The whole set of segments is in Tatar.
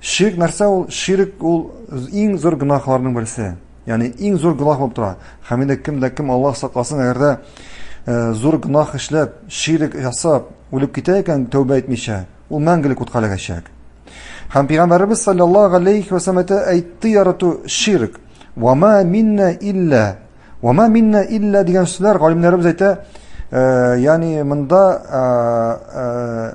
Ширк нәрсә ул? Ширк ул иң зур гөнаһларның берсе. Ягъни иң зур гөнаһ булып тора. Һәм инде кем дә кем Аллаһ сакласын, әгәр дә э, зур гөнаһ эшләп, ширк ясап, үлеп китә икән, тәүбә итмичә, ул мәңгелек утка эләгәчәк. Һәм пәйгамбәребез саллаллаһу алейхи ва саллям әйтте ярату ширк. Ва ма минна илля. Ва ма минна илля дигән сүзләр галимнәребез әйтә, э, ягъни монда э,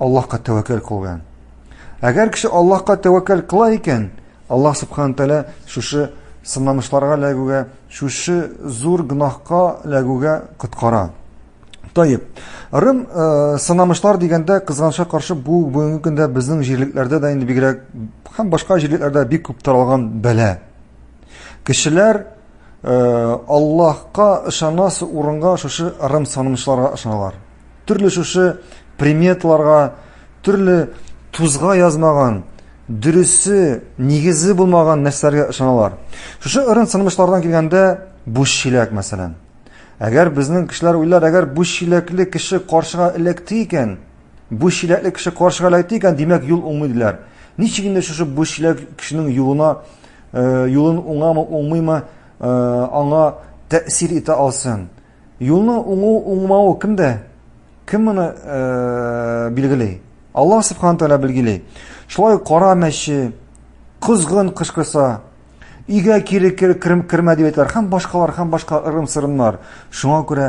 Аллаһка тәвәккәл кылган. Әгәр кеше Аллаһка тәвәккәл кыла икән, Аллаһ субхана тәгалә шушы сынамышларга эләгүгә, шушы зур гөнаһка эләгүгә коткара. Таеп. Рым э, сынамышлар дигәндә кызганычка каршы бу бүгенге көндә безнең җирлекләрдә дә инде бигрәк һәм башка җирлекләрдә бик күп таралган бәлә. Кешеләр э, Аллаһка ышанасы урынга шушы рым сынамышларга ышаналар. Төрле шушы приметларга, төрле тузга язмаган, дөресе, нигезе булмаган нәрсәләргә ышаналар. Шушы ырын сынмышлардан килгәндә буш чиләк, мәсәлән. Әгәр безнең кешеләр уйлар, әгәр буш чиләкле кеше каршыга эләкте икән, буш чиләкле кеше каршыга эләкте икән, димәк юл уңмый диләр. Ничек инде шушы буш чиләк кешенең юлына, э, юлын уңамы, уңмыймы, э, аңа тәэсир итә алсын? Юлны уңу уңмау кемдә? Кем моны билгели? Аллаһ субхана тәгалә билгели. Шулай кара мәче, кызгын кышкырса, өйгә кире кермә дип әйтәләр һәм башкалар һәм башка ырым сырымнар шуңа күрә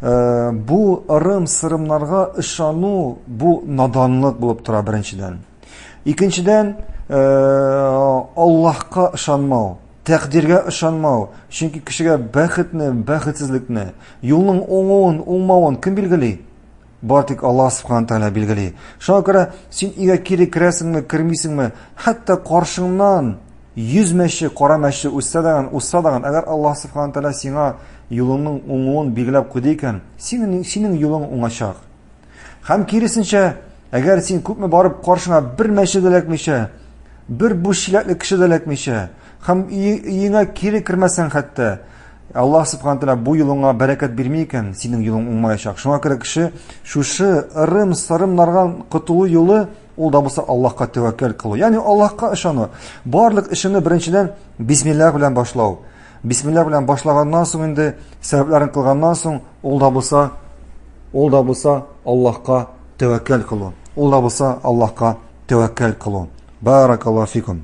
э, бу ырым сырымнарга ышану бу наданлык булып тора беренчедән икенчедән э, аллаһка ышанмау Тәкъдиргә ышанмау, чөнки кешегә бәхетне, бәхетсезлекне, юлның уңуын, уңмавын кем билгели? Бар тик Аллаһ Субхану Тәгалә билгели. Шуңа күрә син өйгә кире керәсеңме, кермисеңме, хәтта каршыңнан 100 мәче, кара мәче үссә даган, усса даган, әгәр Аллаһ Субхану Тәгалә сиңа юлыңның уңуын билгеләп куйды икән, синең синең юлың уңачак. Һәм киресенчә, әгәр син күпме барып каршыңа бер мәче дә эләкмичә, бер буш чиләкле кеше дә эләкмичә, һәм өеңә кире кермәсәң хәтта, Аллаһ субхана тәала бу юлыңа бәрәкәт бирми икән, синең юлың уңмаячак. Шуңа күрә кеше шушы ырым, сырым нарган котылу юлы ул да булса Аллаһка тәвәккәл кылу. Ягъни Аллаһка ышану. Барлык эшеңне беренчедән бисмиллах белән башлау. Бисмилла белән башлаганнан соң инде сәбәпләрен кылганнан соң ул да булса ул да булса Аллаһка тәвәккәл кылу. Ул да булса Аллаһка тәвәккәл кылу. Баракаллаһу фикум.